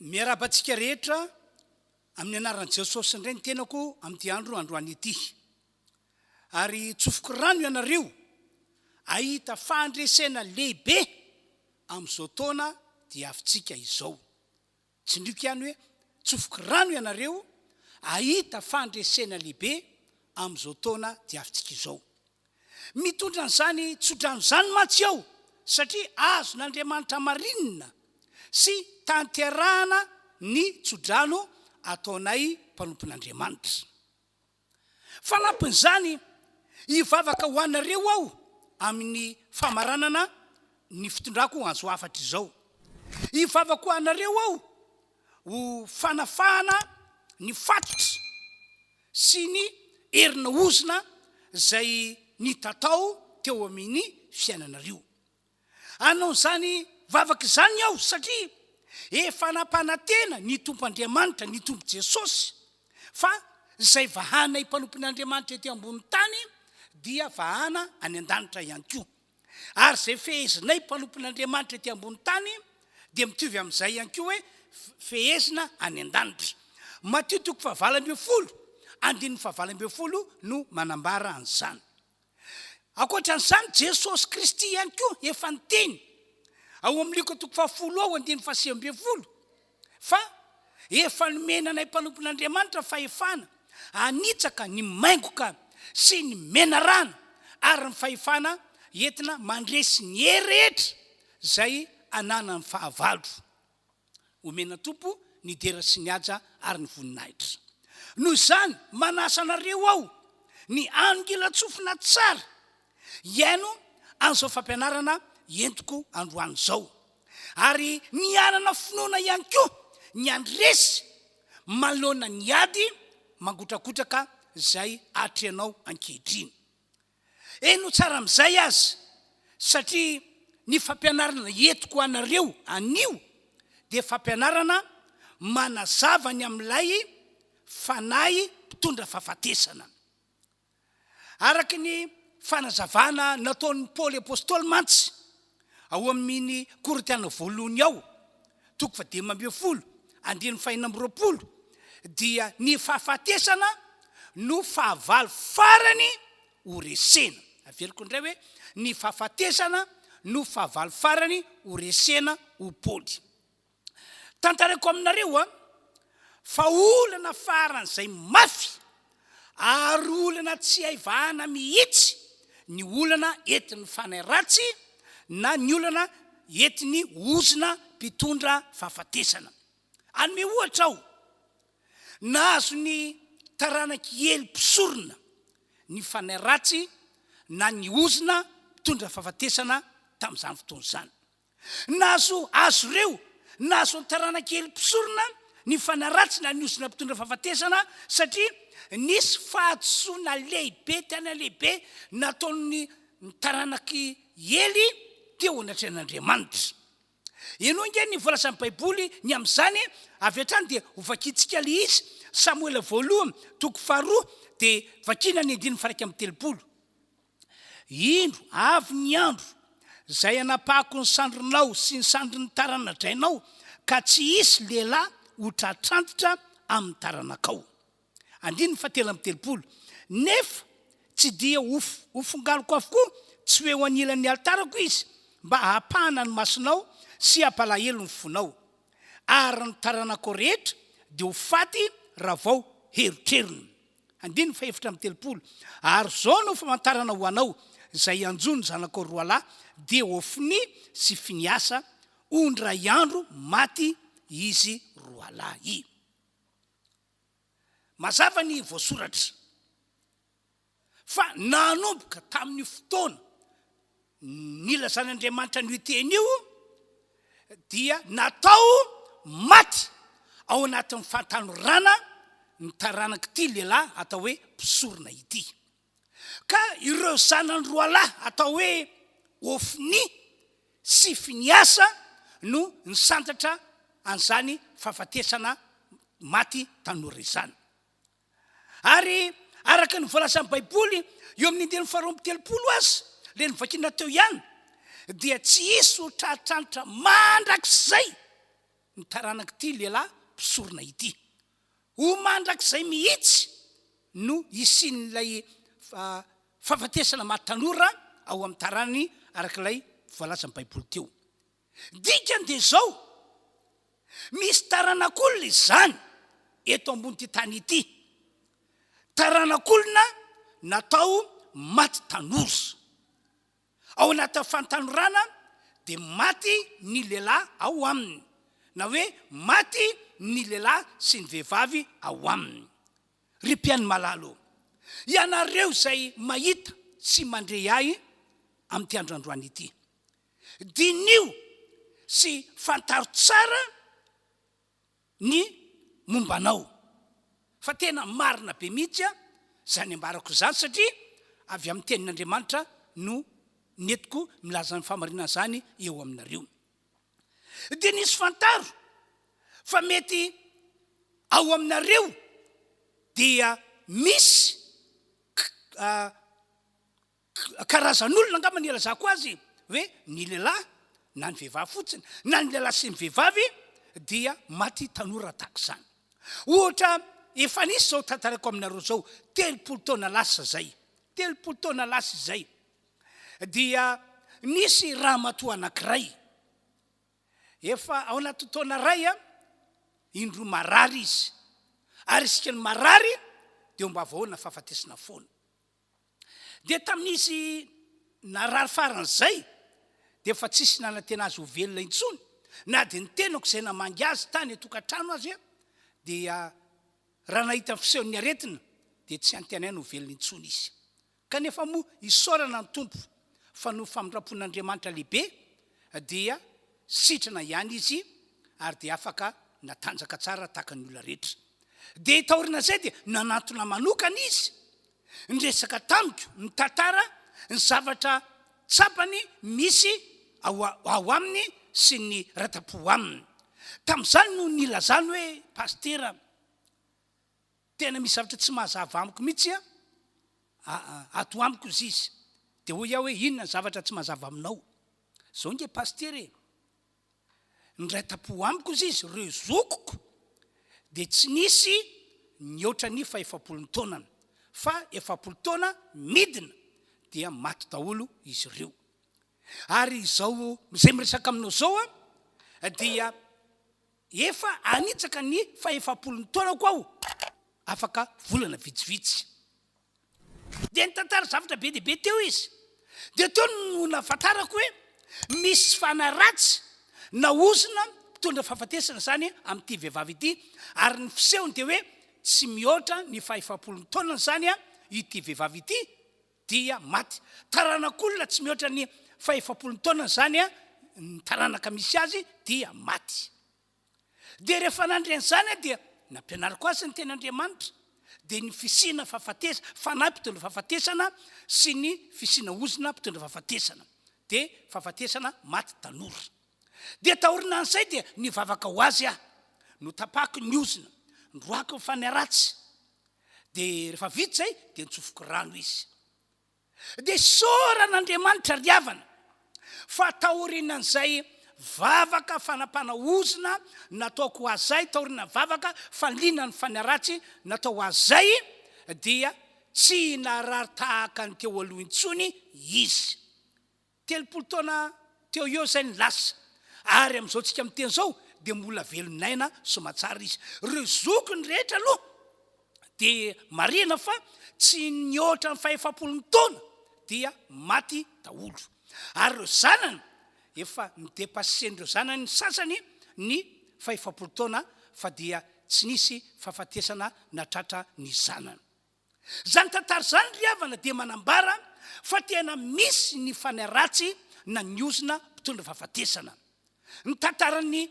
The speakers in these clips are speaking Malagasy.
Miarahaba antsika rehetra amin'ny anaran'i Jesosy indray ny tenako amin'ity andro androany ity. Ary tsofiko rano ianareo ahita fahandresena lehibe amin'izao taona diavintsika izao. Tsindriako ihany hoe tsofiko rano ianareo ahita fahandresena lehibe amin'izao taona diavintsika izao. Mitondra an'izany tsodrano izany mantsy ao satria azon'Andriamanitra marinina sy tanterahana ny tsodrano ataonay mpanompon'Andriamanitra. Fanampin'izany, hivavaka ho anareo aho amin'ny famaranana ny fitondrako anjo hafatra izao. Hivavaka ho anareo aho ho fanafahana ny fatotra sy ny herin'ny ozona izay nitatao teo amin'ny fiainanareo. Hanao izany vavaka izany aho satria efa nampanantena ny Tompo Andriamanitra, ny Tompo Jesosy, fa izay vahanay mpanompon'Andriamanitra ety ambony tany dia vahana any an-danitra ihany koa. Ary izay fehezinay mpanompon'Andriamanitra ety ambony tany dia mitovy amin'izay ihany koa hoe fehezina any an-danitra. Matio toko fahavalo ambin'ny folo, andininy fahavalo ambin'ny folo no manambara an'izany. Ankoatra an'izany, Jesosy Kristy ihany koa efa niteny ao amin'ny Lioka toko fahafolo ao, andininy fahasivy ambin'ny folo, Fa efa nomena anay mpanompon'Andriamanitra fahefana hanitsaka ny maingoka sy ny menarana ary ny fahefana entina mandresy ny hery rehetra izay ananan'ny fahavalo. Omena Tompo ny dera sy ny haja ary ny voninahitra. Noho izany, manasa anareo aho ny hanongilan-tsofina tsara hihaino an'izao fampianarana entiko androany izao. ary ny hanana finoana ihany koa ny handresy manoloana ny ady mangotrakotraka izay atrehanao ankehitriny. Eny ho tsara amin'izay aza, satria ny fampianarana entiko ho anareo anio dia fampianarana manazava ny amin'ilay Fanahy mpitondra fahafatesana. Araka ny fanazavana nataon'i Paoly apostoly mantsy, ao amin'ny Korintiana voalohony ao, toko fahadimy ambin'ny folo, andininy fahenina amby roapolo, dia ny fahafatesana no fahavalo farany ho resena. Averiko indray hoe, ny fahafatesana no fahavalo farany ho resena ho Paoly. Tantarako aminareo an, fa olana faran'izay mafy ary olana tsy hay vahana mihitsy ny olana entin'ny fanahy ratsy na ny olana entin'ny ozona mpitondra fahafatesana. Hanome ohatra aho, nahazo ny taranak'i Ely mpisorona ny fanahy ratsy na ny ozona mpitondra fahafatesana tamin'izany fotoana izany. Nahazo azy ireo, nahazo ny taranakely mpisorona ny fanaratsy na ny ozona mpitondra fahafatesana satria nisy fahadisoana lehibe tena lehibe nataon'ny taranak'i Ely teo anatrehan'Andriamanitra. Eny hoy ange ny voalazan'ny Baiboly ny amin'izany, avy hatrany dia hovakintsika ilay izy, Samoela Voalohany toko faharoa dia vakina ny andininy faha iraika amby telopolo. Indro, avy ny andro, izay hanapahako ny sandrinao sy ny sandrin'ny tarana-drainao, ka tsy hisy lehilahy ho tratrantitra amin'ny taranakao. Andininy fahatelo amby telopolo. Nefa tsy dia hofongaloko avokoa, tsy ho eo anilan'ny alitarako izy, mba hahapahana ny masonao sy hampalahelo ny fonao. Ary ny taranako rehetra dia ho faty raha vao herotrerony. Andininy fahefatra amby telopolo Ary izao no famantarana ho anao izay hianjo ny zanakao roalahy, dia Hofnia sy Finiasa, ho indray andro maty izy roalahy. Mazava ny voasoratra fa nanomboka tamin'io fotoana. Ny ilazan'Andriamanitra an'io teny io dia natao maty ao anatin'ny fahatanorana ny taranak'ity lehilahy atao hoe mpisorona ity. Ka ireo zanany roalahy atao hoe Hofni sy Finiasa no nisantatra an'izany fahafatesana maty tanora izany. Ary araka ny voalazan'ny Baiboly eo amin'ny andininy faharoa amby telopolo aza, ilay novakina teo ihany, dia tsy hisy ho tratranitra mandrakizay ny taranak'ity lehilahy mpisorona ity. Ho mandrakizay mihitsy no hisian'ilay fahafatesana maha tanora ao amin'ny taranany araka ilay voalazan'ny Baiboly teo. Ny dikany dia izao, misy taranak'olona izany eto ambon'ity tany ity, taranak'olona natao maty tanora. Ao anatin'ny fahatanorana dia maty ny lehilahy ao aminy, na hoe maty ny lehilahy sy ny vehivavy ao aminy. Ry mpihaino malala ô, ianareo izay mahita sy mandre ahy amin'ity andro androany ity, Diniho sy fantaro tsara ny momba anao. Fa tena marina be mihitsy izany ambarako izany satria avy amin'ny Tenin'Andriamanitra no nentiko milaza izany fahamarinana izany eo aminareo. Diniho sy fantaro fa mety ao aminareo dia misy karazan'olona angamba ny ilazako azy hoe ny lehilahy na ny vehivavy fotsiny na ny lehilahy sy ny vehivavy dia maty tanora tahaka izany. Ohatra efa nisy izao tantaraiko aminareo izao telopolo taona lasa izay, telopolo taona lasa izay dia nisy ramatoa anankiray efa ao anaty taona iray a indroa marary izy ary isika ny marary dia mba vahoana fahafatesana foana. Dia tamin'izy narary faran'izay, dia efa tsisy nanantena azy ho velona intsony, na dia ny tenako izay namangy azy tany an-tokantrano aza, dia raha nahita ny fisehon'ny aretina, dia tsy antenainy ho velona intsony izy. Kanefa moa isaorana ny Tompo, fa noho famindram-pon'Andriamanitra lehibe, dia sitrana ihany izy ary dia afaka natanjaka tsara tahaka ny olona rehetra. Dia taorinan'izay dia nanantona manokana izy, niresaka tamiko, nitantara ny zavatra tsapany misy ao ao aminy sy ny rata-po aminy. Tamin'izany no nilazany hoe, Pasitera, Tena misy zavatra tsy mazava amiko mitsy a aa ato amiko zis de hoy aho hoe inona ny zavatra tsy mazava aminao zao nge pasitera e ndray tapo amiko zis reo zokiko de tsy nisy nihoatra ny fahefapolony taonany fa efapolo taona midina dia maty daholo izy reo ary izao zay miresaka aminao zao a dia Efa hanitsaka ny fahefapolon'ny taonako aho afaka volana vitsivitsy. Dia nitantara zavatra be dia be teo izy. Dia teo no nahafantarako hoe misy fanaratsy na ozona mpitondra fahafatesana izany amin'ity vehivavy ity, ary ny fisehony dia hoe tsy mihoatra ny fahefapolon'ny taonany izany ity vehivavy ity, dia maty. Taranak'olona tsy mihoatra ny fahefapolo taona izany ny taranaka misy azy dia maty. Dia rehefa nandre an'izany dia nampianariko azy ny teny Andriamanitra dia ny fisiana fahafatesana, fanahy mpitondra fahafatesana sy ny fisiana ozona mpitondra fahafatesana dia fahafatesana maty tanora. Dia taorinan'izay dia nivavaka ho azy aho, notapahiko ny ozona, noroahiko ny faniratsy, Dia rehefa vita izay dia nitsofoky rano izy. Dia isaorana Andriamanitra ry havana fa taorian'izay vavaka fanapahana ozona nataoko ho azy ahy, taorian'ny vavaka fanilinana ny fanaratsy natao ho azy ahy, dia tsy narary tahaka ny teo aloha intsony izy. Telopolo taona teo eo izay ny lasa, ary amin'izao tsika miteny izao dia mbola velon'aina soamantsara izy. Ireo zokiny rehetra aloha dia marihina fa tsy nihoatra ny fahefapolony taona dia maty daholo, ary ireo zanany efa nidepassen'ireo zanany ny sasany ny fahefapolo taona fa dia tsy nisy fahafatesana natratra ny zanany. Izany tantara izany ry havana dia manambara fa tena misy ny fanaratsy na ny ozona mpitondra fahafatesana. Ny tantaran'ny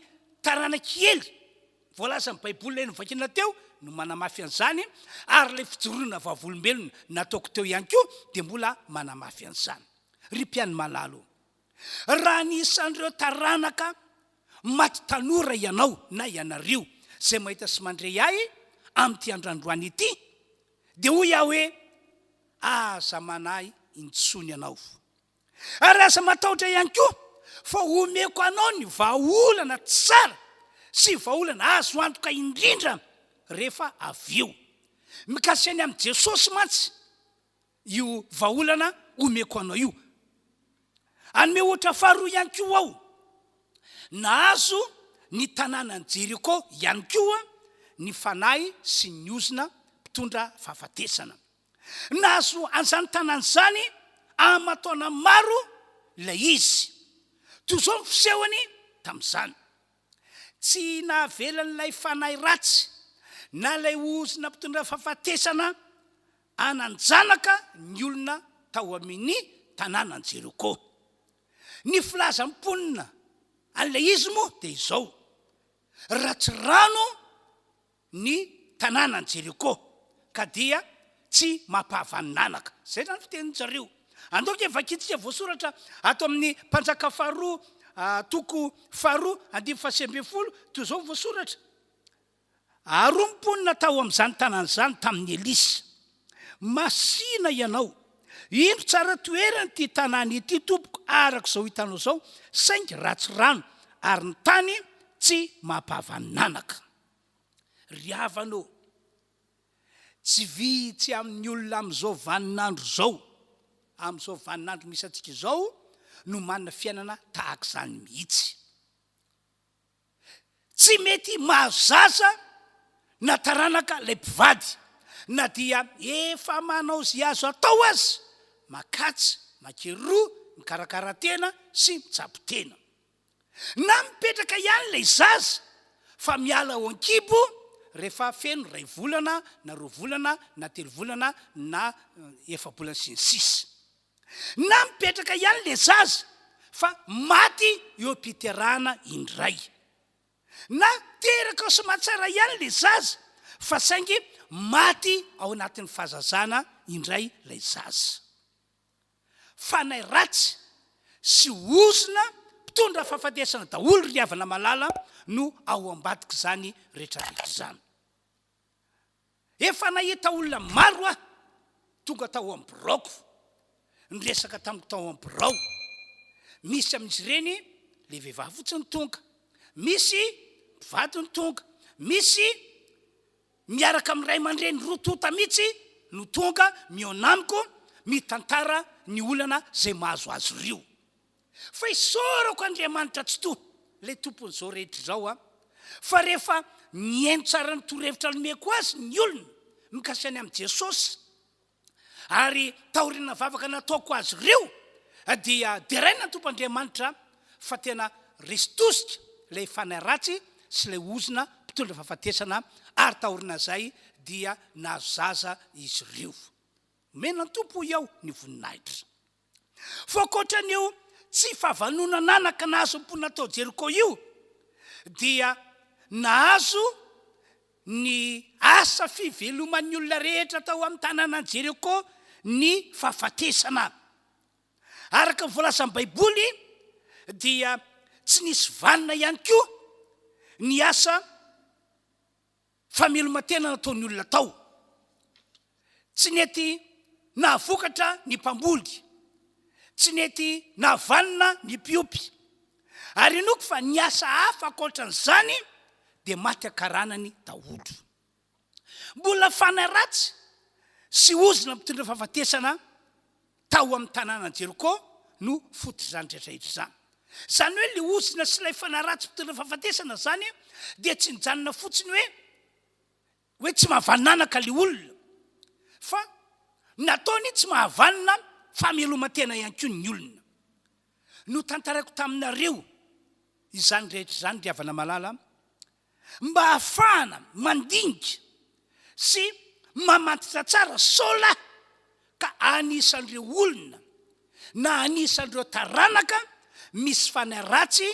taranak'i Ely voalazan'ny baiboly ilay novakiana teo no manamafy an'izany ary ilay fijoroana vavolombelona nataoko teo ihany koa dia mbola manamafy an'izany. Ry mpianimalalo o! Raha anisan'ireo taranaka maty tanora ianao na ianareo izay mahita sy mandre ahy amin'ity andrandroany ity, dia hoy aho hoe, Aza manahy intsony ianao. Ary aza matahotra ihany koa, fa homeko anao ny vahaolana tsara sy vahaolana azo antoka indrindra rehefa avy eo. Mikasika ny amin'i Jesosy mantsy io vahaolana omeko anao io. Hanome ohatra faharoa ihany koa aho. Nahazo ny tanànan'i Jeriko ihany koa ny fanahy sy ny ozona mpitondra fahafatesana. Nahazo an'izany tanàna izany aman-taona maro ilay izy. Toy izao ny fisehony tamin'izany, Tsy nahavelan'ilay fanahy ratsy na ilay ozona mpitondra fahafatesana, hanan-janaka ny olona tao amin' ny tanànan' Jeriko. Ny filaza ny mponina an' ilay izy moa dia izao, Ratsy rano ny tanànan' i Jeriko, ka dia tsy mampahavanin'anaka. Izay izany fitenin-dry zareo. Andao ange vakintsika voasoratra ato amin' ny Mpanjaka faharoa, toko faharoa, andininy fahasivy ambin'ny folo, toy izao ny voasoratra. Aroa ny mponina tao amin'izany tanàna izany tamin'i Elisa. Masìna ianao. Indro tsara toerana ity tanàna ity, tompoko, araka izao hitanao izao, saingy ratsy rano, ary ny tany tsy mampahavanin'anaka. Ry havana ô, tsy vitsy amin'ny olona amin'izao vaninandro izao, amin'izao vaninandro misy antsika izao, no manana fiainana tahaka izany mihitsy. Tsy mety mahazo zaza na taranaka ilay mpivady na dia efa manao izay azo atao aza, makatsy, makery roa, mikarakara tena sy mitsabo tena. Na mipetraka ihany ilay zaza fa miala ao an-kibo rehefa feno iray volana na roa volana na telo volana na efa-bolana sy ny sisa. Na mipetraka ihany le zaza fa maty eo am-piterahana indray. Na teraka ao Soamatsara ihany le zaza fa saingy maty ao anatin'ny fahazazana indray lay zaza. Fanahy ratsy sy ozona mpitondra fahafatesana daholo ry havana malala no ao ambadik'izany retraretra izany. Efa nahita olona maro aho tonga tao amin'ny biraoko, niresaka tamiko tao amin'ny birao. Misy amin'izy ireny ilay vehivavy fotsiny tonga, misy mpivady no tonga, misy miaraka amin'ny ray aman-dreny roa tonta mihitsy no tonga mihaona amiko, mitantara ny olana izay mahazo azy ireo. Fa isaorako Andriamanitra Tsitoha, ilay Tompon'izao rehetra izao an, fa rehefa mihaino tsara ny torohevitra nomeko azy ny olona mikasika ny amin'i Jesosy, ary taoriana vavaka nataoko azy ireo, dia deraina ny Tompo Andriamanitra fa tena resy tosika ilay fanahy ratsy sy ilay ozona mpitondra fahafatesana, ary taorinazay dia nahazo zaza izy ireo. Omena ny Tompo hoy aho ny voninahitra. Voakoatran'io tsy fahavanonan-anaka nahazo ny mponina tao Jeriko io, dia nahazo ny asa fiveloman'ny olona rehetra tao amin'ny tanànan'i Jeriko ny fahafatesana. Araka ny voalazan'ny Baiboly, dia tsy nisy vanona ihany koa ny asa Fameloman-tena nataon'ny olona tao. Tsy nety nahavokatra ny mpamboly. Tsy nety nahavanona ny mpiopy. Ary inoako fa ny asa hafa ankoatran'izany dia maty an-karanany daholo. Mbola fanahy ratsy sy ozona mitondra fahafatesana Tao amin'ny tanànan'i Jeriko no fototr'izany rehetra izany. Izany hoe ilay ozona sy ilay fanahy ratsy mpitondra fahafatesana izany dia tsy nijanona fotsiny hoe hoe tsy mahavananaka ilay olona fa nataony tsy mahavanona famelomantena ihany koa ny olona. Notantaraiko taminareo izany rehetra izany ry havana malala mba hahafahana mandinika sy mamantatra tsara sao la ka anisan'ireo olona na anisan'ireo taranaka misy fanahy ratsy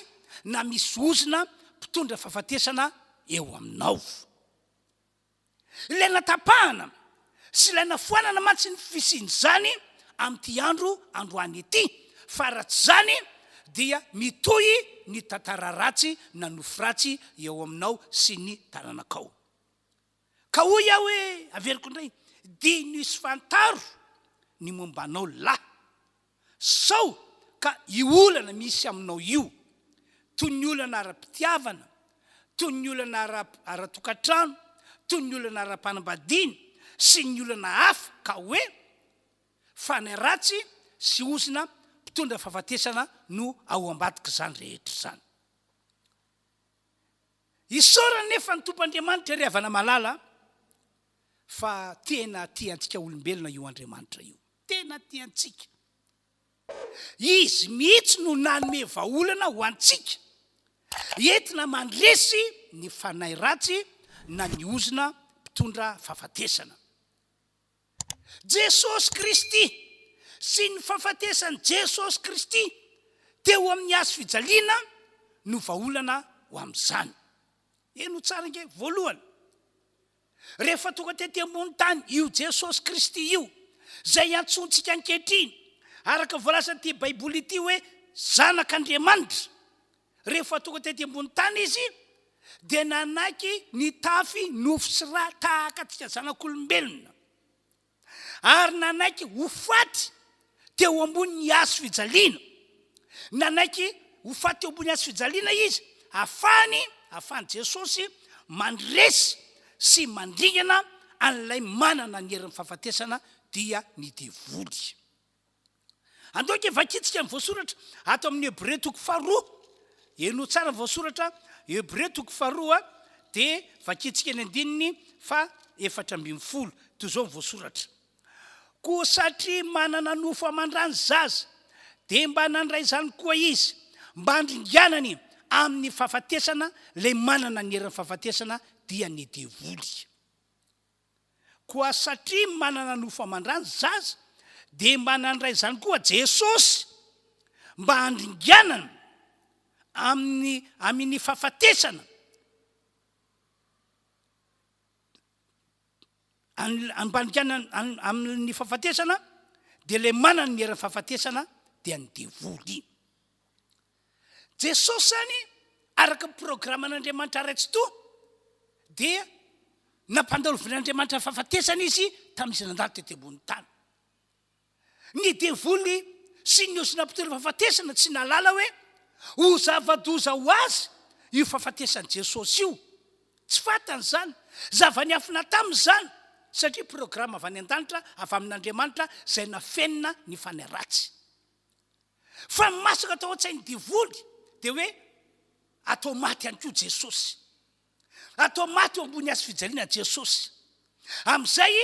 na misy ozona mpitondra fahafatesana eo aminao. Ilay natapahana sy ilay nafoanana mantsy ny fisian'izany amin'ity andro androany ity, fa raha tsy izany dia mitohy ny tantara ratsy na nofy ratsy eo aminao sy ny taranakao. Ka hoy aho hoe, averiko indray, diniho sy fantaro ny momba anao lahy. Sao ka io olana misy aminao io, toy ny olana ara-pitiavana, toy ny olana ara-tokantrano, toy ny olana ara-panambadiana sy ny olana hafa ka hoe, fanahy ratsy sy ozona mpitondra fahafatesana no ao ambadik'izany rehetra izany. Isaorana anefa ny Tompoandriamanitra ry havana malala fa tena tia antsika olombelona io Andriamanitra io. tena tiantsika. Izy mihitsy no nanome vahaolana ho antsika entina mandresy ny fanahy ratsy na ny ozona mpitondra fahafatesana. Jesosy Kristy sy ny fahafatesan'i Jesosy Kristy teo amin'ny Hazo fijaliana no vahaolana ho amin'izany. Heno tsara ange, voalohany, Rehefa tonga tety ambony tany io Jesosy Kristy io, izay iantsoantsika ankehitriny, araka ny voalazan'ity Baiboly ity hoe Zanak'Andriamanitra, rehefa tonga tety ambony tany izy, dia nanaiky nitafy nofo sy ra tahaka antsika zanak'olombelona. ary nanaiky ho faty teo ambonin'ny hazo fijaliana. Nanaiky ho faty teo ambonin'ny hazo fijaliana izy, afahany, afahan'i Jesosy mandresy sy mandringana an'ilay manana ny herin'ny fahafatesana, dia ny devoly. Andao ange vakintsika ny voasoratra ato amin'ny Hebrea toko faharoa. Henoy tsara ny voasoratra Hebrea toko faharoa dia vakintsika ny andininy fa efatra ambin'ny folo. Toy izao ny voasoratra. Koa satria manana nofo aman-dra ny zaza, dia mba nandray izany koa izy, mba handringanany amin'ny fahafatesana, ilay manana ny herin'ny fahafatesana dia ny devoly. Koa satria manana nofo aman-drany zaza dia mba nandray izany koa Jesosy mba handringanana amin'ny aminny fahafatesana mba handringanana aminny fahafatesana dia ilay manana ny heranny fahafatesana dia ny devoly. Jesosy any araka ny programan'Andriamanitra Ray Tsitoha dia nampandalovin'Andriamanitra fahafatesana Izy tamin'izy nandalo tety ambonin'ny tany. Ny devoly sy ny osy nampitory fahafatesana tsy nahalala hoe ho zava-doza ho azy io fahafatesan'i Jesosy io. Tsy fantany izany. Zava-niafina taminy izany satria programa avy any an-danitra avy amin'Andriamanitra izay nafenina ny fanahy ratsy. Fa ny masaka tao an-tsain'ny devoly dia hoe atao maty ihany koa Jesosy. Atao maty eo ambony azy fijaliana Jesosy. Amin'izay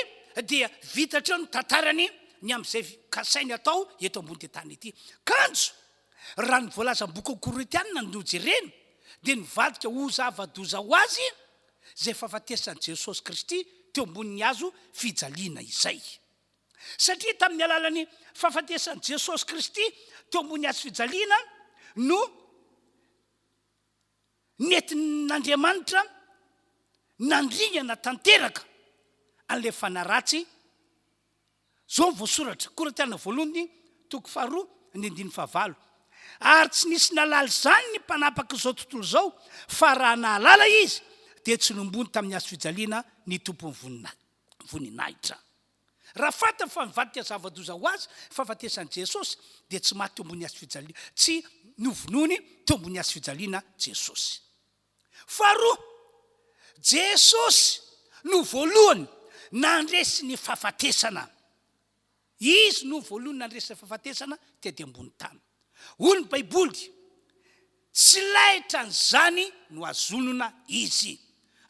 dia vita hatreo ny tantarany ny amin'izay kasainy atao eto ambony tany ity. Kanjo, raha ny voalaza amin'ny boky Korintianina no jerena, dia nivadika ho zava-doza ho azy izay fahafatesan'i Jesosy Kristy teo ambonin'ny hazo fijaliana izay. Satria tamin'ny alalan'ny fahafatesan'i Jesosy Kristy teo ambony hazo fijaliana no nentin'Andriamanitra nandringana tanteraka an'ilay fanahy ratsy. Izao ny voasoratra, Korintiana voalohany, toko faharoa, ny andininy fahavalo. Ary tsy nisy nalala izany ny mpanapak'izao tontolo izao, fa raha nahalala izy, dia tsy nombony tamin'ny hazo fijaliana ny tompon'ny voninahitra. voninahitra. Raha fantany fa nivadika zava-doza ho azy ny fahafatesan'i Jesosy, dia tsy maty teo ambony hazofijaliana, tsy novonoiny teo ambony hazofijaliana Jesosy. Faharoa, Jesosy no voalohany nandresy ny fahafatesana. Izy no voalohany nandresy ny fahafatesana tety ambony tany. Hoy ny Baiboly, Tsy laitra an'izany no hazonona izy.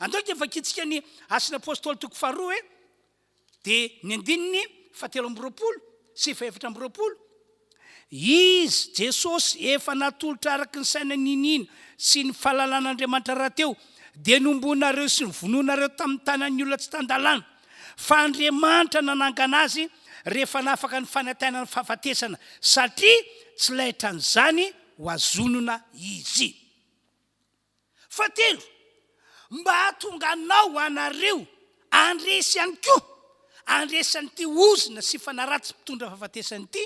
Andao ity vakintsika ny Asan'ny Apostoly toko faharoa e, dia ny andininy fahatelo amby roapolo sy fahefatra amby roapolo, Izy, Jesosy, efa natolotra araka ny saina niniana sy ny fahalalan'Andriamanitra rahateo, dia nombohinareo sy novonoinareo tamin'ny tanan'ny olona tsy tan-dalàna. fa Andriamanitra nanangana azy rehefa nafaka ny fanantenan'ny fahafatesana, satria tsy laitran'izany ho azonina izy. Fahatelo, mba hahatonga anao hanareo handresy ihany koa, handresy an'ity ozona sy fanaratsy mpitondra fahafatesana ity,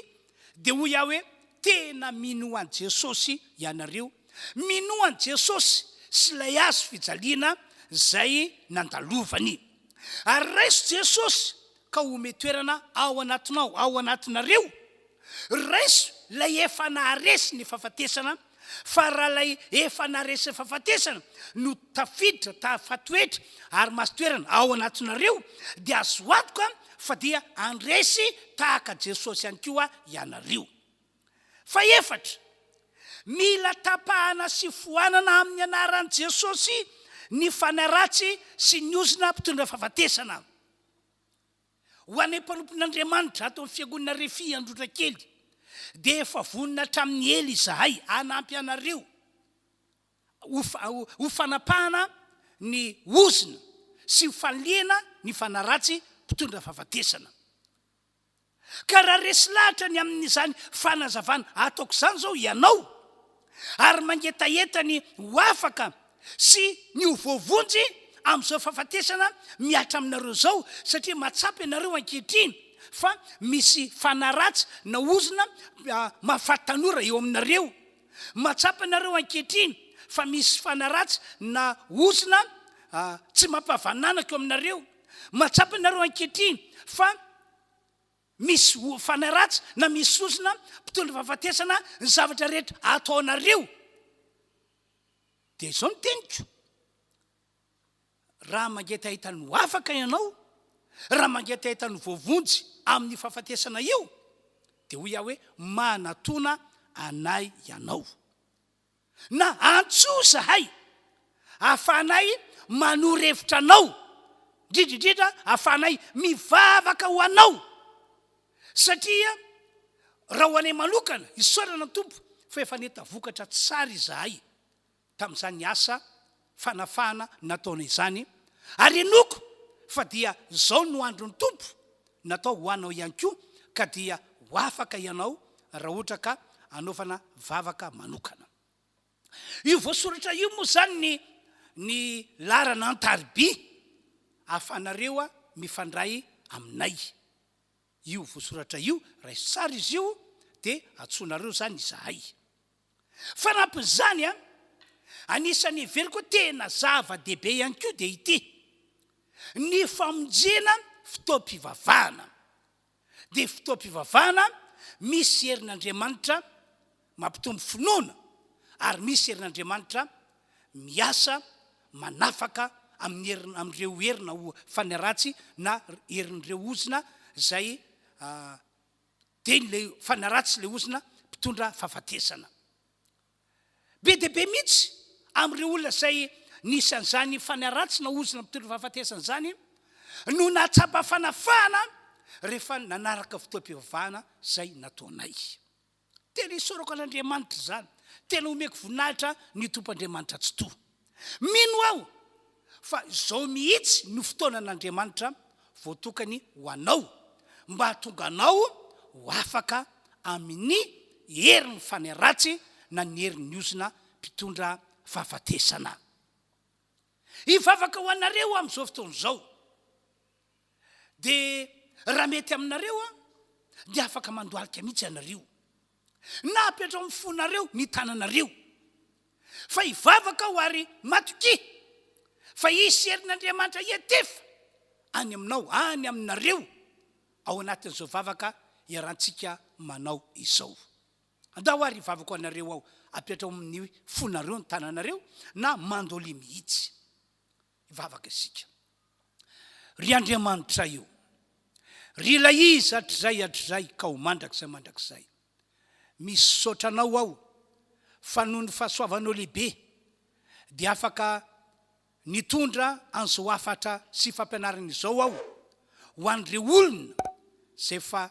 Dia hoy aho hoe, Tena minoa an'i Jesosy ianareo. Minoa an'i Jesosy sy ilay hazo fijaliana izay nandalovany. Ary raiso Jesosy ka homehy toerana ao anatinao, ao anatinareo. Raiso ilay efa naharesy ny fahafatesana fa raha ilay efa naresy fahafatesana no tafiditra tafatoetra ary masotoerana ao anatinareo dia azo antoka fa dia andresy tahaka Jesosy ihany koa ianareo. Fahefatra, mila tapahana sy foanana amin'ny anaran'i Jesosy ny fanahy ratsy sy ny ozona mpitondra fahafatesana. Ho anay mpanompon'Andriamanitra ato amin'ny Fiangonana Refi Androtrakely dia efa vonona hatramin'ny ela izahay hanampy anareo ho fanapahana ny ozona sy ho fanilihana ny fanaratsy mpitondra fahafatesana. Ka raha resy lahatra ny amin'izany fanazavana ataoko izany izao ianao, ary mangetaheta ny ho afaka sy ny ho voavonjy amin'izao fahafatesana mihatra aminareo izao satria mahatsapa ianareo ankehitriny fa misy fanahy ratsy na ozona mahafaty tanora eo aminareo. Mahatsapa ianareo ankehitriny fa misy fanahy ratsy na ozona tsy mampahavananako eo aminareo. Mahatsapa ianareo ankehitriny fa. Misy hofana ratsy na misy sosona mpitondra fahafatesana ny zavatra rehetra ataonareo. Dia izao ny teniko, raha mangetaheta ny ho afaka ianao, raha mangetaheta ny voavonjy amin'io fahafatesana io, dia hoy aho hoe manatona anay ianao. na antso zahay ahafahanay manoro hevitra anao, indrindra indrindra ahafahanay mivavaka ho anao, satria raha ho anay manokana, isaorana ny Tompo fa efa neta vokatra tsara izahay tamin'izany asa fanafahana nataony izany, ary henoiko fa dia izao no andron'ny Tompo natao ho anao ihany koa, ka dia ho afaka ianao raha ohatra ka hanaovana vavaka manokana. Io voasoratra io moa izany ny ny laharana an-tariby ahafahanareo mifandray aminay. Io voasoratra io, raiso tsara izy io, dia antsoinareo izany izahay. Fanampin'izany, anisan'ny heveriko hoe tena zava-dehibe ihany koa dia ity, ny famonjena fotoam-pivavahana. Dia fotoam-pivavahana misy herin'Andriamanitra mampitombo finoana ary misy herin'Andriamanitra miasa manafaka amin'ireo herina ho fanaratsy na herin'ireo ozona izay Dia ilay fanaratsy ilay ozona mpitondra fahafatesana. Be dia be mihitsy amin'ireo olona izay nisy an'izany fanaratsy na ozona mpitondra fahafatesana izany no nahatsapa fanafahana rehefa nanaraka fotoam-pivavahana izay nataonay. Tena isaorako an'Andriamanitra izany. Tena omeko voninahitra ny Tompo Andriamanitra Tsitoha. Mino aho fa izao mihitsy no fotoanan'Andriamanitra voatokany ho anao mba hahatonga anao ho afaka amin'ny herin'ny fanahy ratsy na ny herin'ny ozona mpitondra fahafatesana. Hivavaka ho anareo aho amin'izao fotoana izao. Dia raha mety aminareo dia afaka mandohalika mihitsy ianareo. na apetraho amin'ny fonareo ny tananareo. Fa hivavaka aho ary matokia fa hisy herin'Andriamanitra hiantefa any aminao, any aminareo, ao anatin'izao vavaka iarahantsika manao izao. Andao ary hivavaka ho anareo aho, apetraho amin'ny fonareo ny tananareo, na mandolia mihitsy. Hivavaka isika. Ry Andriamanitray o! Ry Ilay Izy hatrizay hatrizay ka ho mandrakizay mandrakizay, misaotra Anao aho fa noho ny fahasoavanao lehibe dia afaka nitondra an'izao hafatra sy fampianarana izao aho ho an'ireo olona izay efa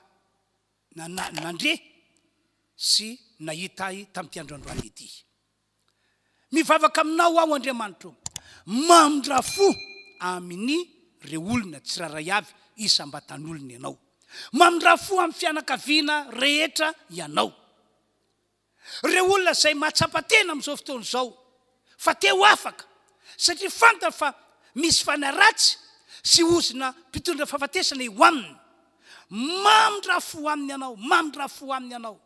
nandre sy nahita ahy tamin'ity androandroany ity. Mivavaka aminao aho Andriamanitro ô, mamindra fo aminy reo olona tsiraray avy isam-batan'olona ianao. Mamindra fo amin'ny fianakaviana rehetra ianao. Reo olona izay mahatsapa tena amin'izao fotoana izao fa te ho afaka satria fantany fa misy fanaratsy sy ozona mpitondra fahafatesana eo aminy. Mamindra fo aminy ianao, mamindra fo aminy ianao.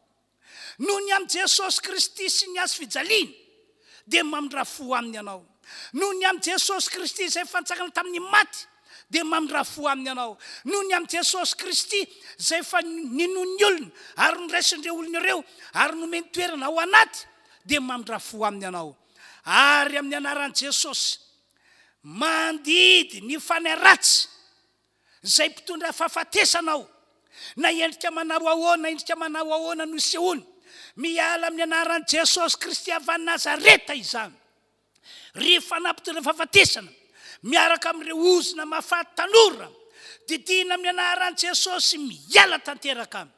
Noho ny amin'i Jesosy Kristy sy ny Hazo fijaliany, dia mamindrà fo aminy ianao. Noho ny amin'i Jesosy Kristy izay efa nitsangana tamin'ny maty, dia mamindrà fo aminy ianao. Noho ny amin'i Jesosy Kristy izay efa ninoan'ny olona ary noraisin'ireo olona ireo ary nomeny toerana ao anaty, dia mamindrà fo aminy ianao. Ary amin'ny anaran'i Jesosy, mandidy ny fanahy ratsy. Izay mpitondra fahafatesana aho. Na endrika manao ahoana, endrika manao ahoana no isehoany, miala amin'ny anaran'i Jesosy Kristy avy any Nazareta izany. Ry fanahy mpitondra fahafatesana, miaraka amin'ireo ozona mahafaty tanora, didiana amin'ny anaran'i Jesosy miala tanteraka any.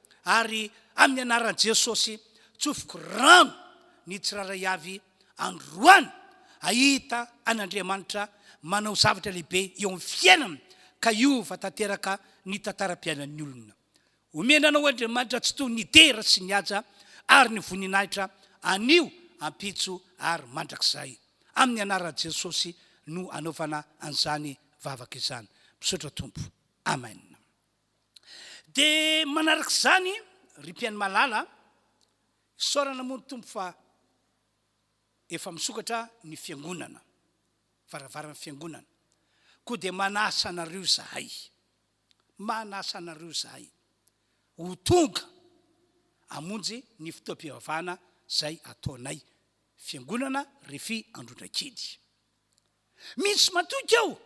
ary amin'ny anaran'i Jesosy tsofiko rano ny tsirairay avy androany ahita an'Andriamanitra manao zavatra lehibe eo amin'ny fiainana ka hiova tanteraka ny tantaram-piainan'ny olona. Omena anao Andriamanitra tsy toy ny dera sy ny haja ary ny voninahitra anio, ampitso ary mandrakizay. Amin'ny anaran'i Jesosy no anaovana an'izany vavaka izany. Misaotra Tompo. Amen. Dia manaraka izany ry mpihaino malala, isaorana moa ny Tompo fa efa misokatra ny fiangonana, varavaran'ny fiangonana, koa dia manasa anareo izahay, manasa anareo izahay ho tonga hamonjy ny fotoam-pivavahana izay ataonay fiangonana Refi Androndrakely. Mihitsy matoky aho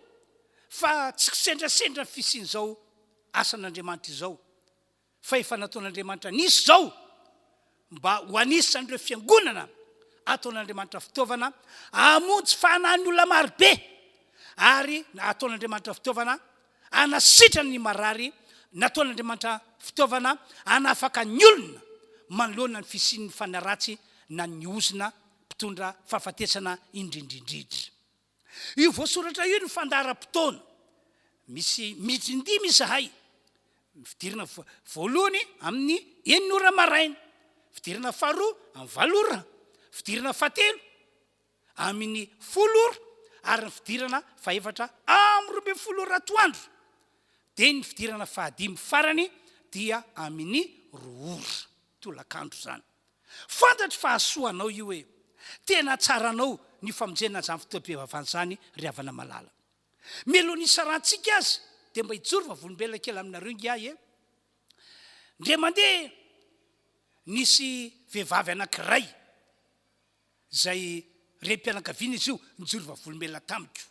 fa tsy kisendrasendra ny fisian'izao asan'Andriamanitra izao, fa efa nataon'Andriamanitra nisy izao mba ho anisan'ireo fiangonana ataon'Andriamanitra fitaovana hamonjy fanahin'ny olona maro be, ary ataon'Andriamanitra fitaovana hanasitrana ny marary, nataon'Andriamanitra fitaovana hanafaka ny olona manoloana ny fisian'ny fanaratsy na ny ozona mpitondra fahafatesana indrindrindridra. Io voasoratra io ny fandaharam-potoana misy minitra indimy izahay, fidirana voalohany amin'ny enina ora maraina, fidirana faharoa amin'ny valo ora, fidirana fahatelo amin'ny folo ora ary ny fidirana fahefatra amin'ny roa ambin'ny folo ora atoandro dia ny fidirana fahadimy farany dia amin'ny roa ora. tolakandro izany. Fantatro fa hahasoa anao io e! Tena hahatsara anao ny famonjena an'izany fotoam-pivavahana izany ry havana malala. Mialohan'ny hisarantsika aza dia mba hijoro vavolombelona kely aminareo ingahy e! Indray mandeha nisy vehivavy anankiray. izay renim-pianakaviana izy io, nijoro vavolombelona tamiko.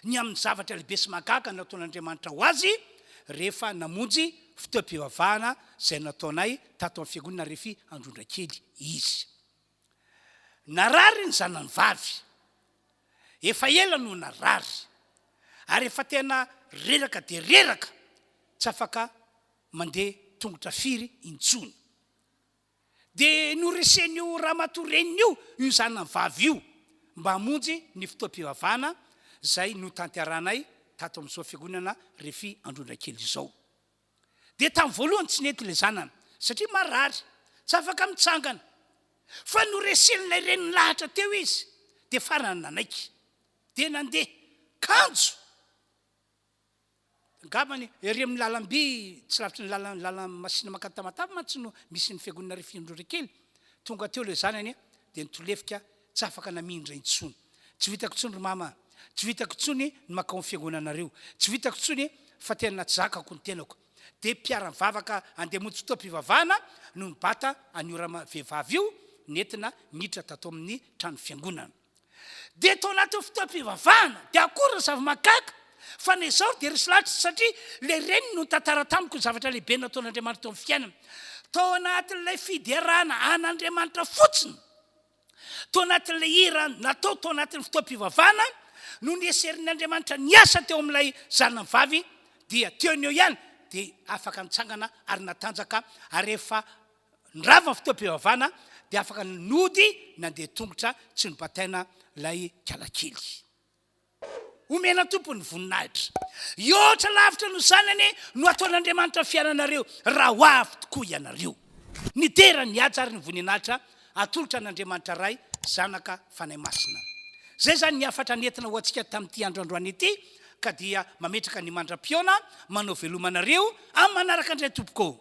Ny amin'ny zavatra lehibe sy mahagaga nataon'Andriamanitra ho azy, rehefa namonjy fotoam-pivavahana izay nataonay tato amin'ny Fiangonana Refi Androndrakely izy. Narary ny zanany vavy. Efa ela no narary, ary efa tena reraka dia reraka, tsy afaka mandeha tongotra firy intsony. dia noresen'io ramatoa reniny io io zanany vavy io mba hamonjy ny fotoam-pivavahana izay notanterahanay tato amin'izao fiangonana Refi Androndrakely izao. Dia tamin'ny voalohany tsy nety ilay zanany satria marary, tsy afaka mitsangana, fa noresen'ilay reniny lahatra teo izy dia farany nanaiky dia nandeha kanjo, Angambany ery amin'ny lalamby tsy lavitry ny lalan'ny lalan'ny masina mankany Tamatave mantsy no misy ny fiangonana Rifin'ny Androrekely. Tonga teo ilay zanany dia nitolefika tsy afaka namindra intsony. Tsy ho hitako intsony ry mama a! Tsy ho hitako intsony ny mankao amin'ny fiangonanareo. Tsy ho hitako intsony fa tena natsizakako ny tenako. Dia mpiara-mivavaka handeha hamonjy fotoam-pivavahana no nibata an'io rama vehivavy io nentina niditra tato amin'ny trano fiangonana. Dia tao anatin'ny fotoam-pivavahana, dia akory ny zava-mahagaga fa na izaho dia resy lahatra, satria ilay reniny no nitantara tamiko ny zavatra lehibe nataon'Andriamanitra teo amin'ny fiainany. Tao anatin'ilay fiderana an'Andriamanitra fotsiny, tao anatin'ilay hira natao tao anatin'ny fotoam-pivavahana no nieserin'ny Andriamanitra niasa teo amin'ilay zanany vavy, dia teo ny eo ihany dia afaka nitsangana ary natanjaka, ary efa Ny rava ny fotoam-pivavahana dia afaka nody nandeha tongotra tsy nobataina ilay kalakely. Omena Tompo ny voninahitra. Hihoatra lavitra noho izany anie no hataon'Andriamanitra ny fiainanareo raha ho avy tokoa ianareo. Nidera ny haja ary ny voninahitra atolotra an'Andriamanitra Ray, Zanaka, Fanahy Masina. Izay izany ny hafatra nentina ho antsika tamin'ity andro androany ity ka dia mametraka ny mandra-pihaona manao veloma anareo amin'ny manaraka indray tompoko ô.